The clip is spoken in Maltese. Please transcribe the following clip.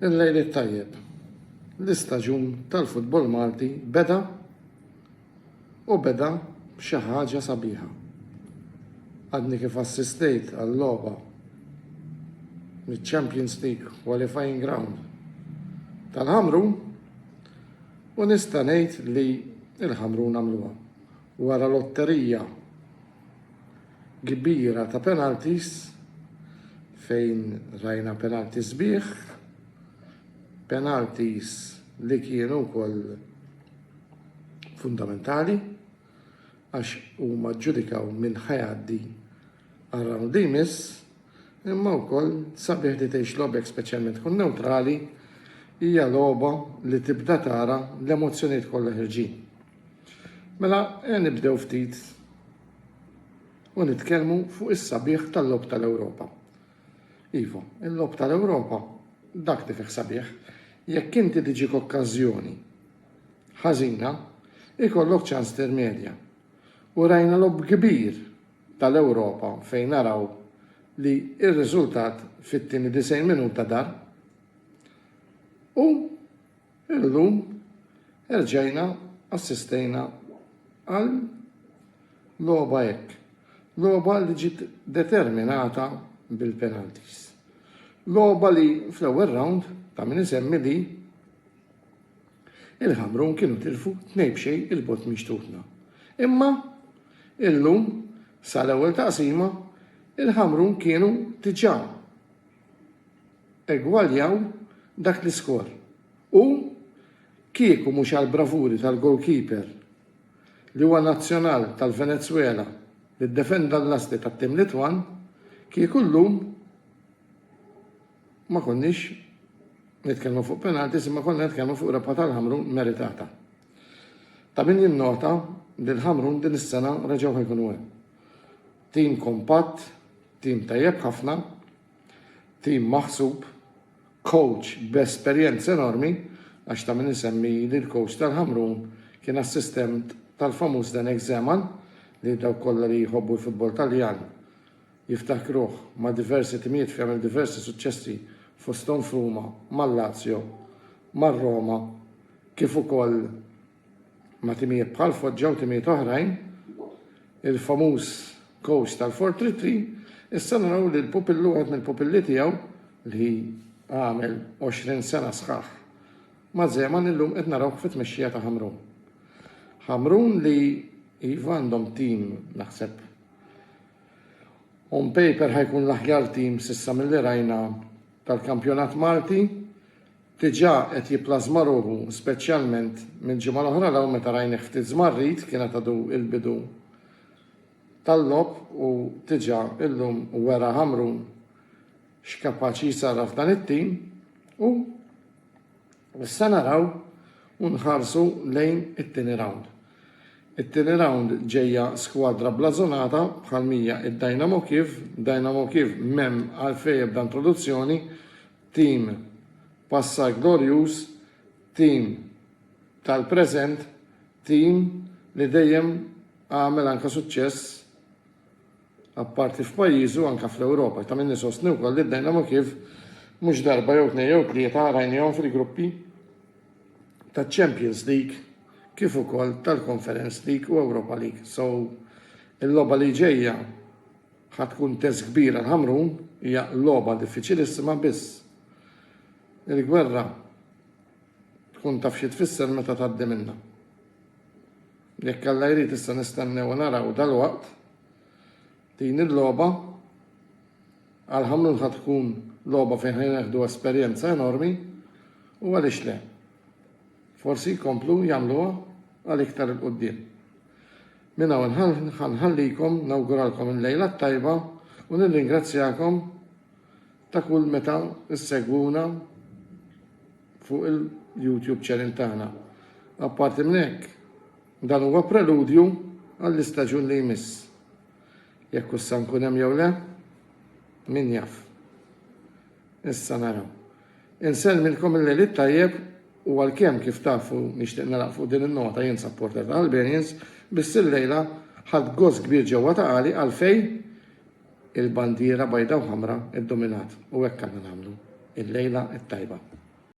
Il-lejl it-tajjeb. L-istaġun tal-futbol Malti beda u beda b'xi ħaġa sabiħa. Għadni kif assistejt għal logħba miċ-Champions League Qualifying Ground tal-Ħamrun u nista' ngħid li l-Ħamrun għamluha. Wara lotterija kbira ta' penalties fejn rajna penalty sbieħ, penalties li kienu wkoll fundamentali għax huma ġġudikaw min ħajaddi għar-round li jmiss, imma wkoll sabiħ li tgħix logħbek speċjalment tkun newtrali hija logħba li tibda tara l-emozzjonijiet kollha ħerġin. Mela ejja nibdew ftit u nitkellmu fuq is-sabiħ tal-Logħob tal-Ewropa. Iva, il-Logħob tal-Ewropa dak li fih sabiħ, jekk inti tiġik okkażjoni ħażina, ikollok ċans tirmedja. U rajna logħob kbir tal-Ewropa fejn naraw li r-riżultat fit-tieni 90 minuta dar u Illum erġajna assistejna għal logħba hekk. Logħba li ġiet determinata bil-penalties. Logħba li fl-ewwel round ta' min isemmi li il-Ħamrun kienu tilfu tnej b'xej il-bot minn xtutna. Imma illum sal-ewwel taqsima il-Ħamrun kienu diġà egwaljaw dak l-iskor u, kieku mhux għall-bravuri tal-gowlkiper li huwa nazzjonal tal-Venezwela li ddefenda l-lasti tat-tim Litwan, kieku llum ma konniex nitkellmu fuq penalties imma konna nitkellmu fuq rebħa tal-Ħamrun meritata. Ta' min jinnota li l-Ħamrun din is-sena reġgħu ħa jkunu hemm. Tim kompatt, tim tajjeb ħafna, tim maħsub, kowċ b'esperjenza enormi għax ta' min isemmi li l-kowċ tal-Ħamrun kien assistent tal-famuż Zdenek Zeman li dawk kollha li jħobbu l-futbol Taljan jiftakruh ma' diversi timijiet fejn għamel diversi suċċessi fosthom f'Ruma, mal-Lazio, mar-Roma kif ukoll ma' timijiet bħal Foggia u timijiet oħrajn, il-famuż kowċ tal-Four Three Three, issa naraw li l-pupillu wieħed mill-pupilli tiegħu li għamel 20 sena sħaħ ma' Zeman illum qed narawh fit-tmexxija ta' Ħamrun. Ħamrun li iva għandhom tim naħseb on paper ħajkun l-aħjar tim s'issa milli rajna tal-kampjonat Malti Diġà qed jipplażma ruħu, speċjalment minn ġimgħa l-oħra 'l hawn meta rajnih ftit żmarrit, kienet għadu l-bidu tal-logħob u diġà llum wera Ħamrun x'kapaċi jsarraf dan it-tim u issa naraw u nħarsu lejn it-tieni rawnd. It-tieni rawnd ġejja skwadra blażonata bħal m'hija d-Dynamo Kiev, Dynamo Kiev m'hemm għalfejn ebda introduzzjoni, Tim, Passat glorjuż, tim tal-preżent, tim li dejjem għamel anke suċċess apparti f'pajjiżu anke fl-Ewropa. Ta' min isostni wkoll li d-Dynamo Kiev mhux darba jew tnejn jew tlieta rajniehom fil-gruppi taċ-Champions League kif ukoll tal-Conference League u Europa League. So, il-logħba li ġejja. Ħa tkun test kbir għal Ħamrun, hija logħba diffiċilissima biss il-gwerra tkun taf xi tfisser meta tgħaddi minnha. Jekk Alla jrid issa nistennew u naraw dalwaqt din il-logħba għal Ħamrun ħa tkun logħba fejn ħa jneħħdu esperjenza enormi u għaliex le. Forsi jkomplu jagħmluha għal iktar 'il quddiem. Minn hawn ħa nħallikom, nawguralkom il-lejla t-tajba u nirringrazzjakom ta' kull meta ssegwuna fuq il-YouTube channel tagħna. Apparti minn hekk, dan huwa preludju għall-istaġun li jmiss. Jekk hux se nkun hemm jew le, min jaf. Issa naraw. Insellmilkom il-Lejl it-Tajjeb u għalkemm kif tafu nixtieq nagħlaq fuq din in-nota jien supporter ta' Albanians biss illejla ħadt gost kbir ġewwa ta' għali għalfejn il-bandiera bajda u ħamra ddominat u hekk għandna nagħmlu. Il-Lejla it-Tajba.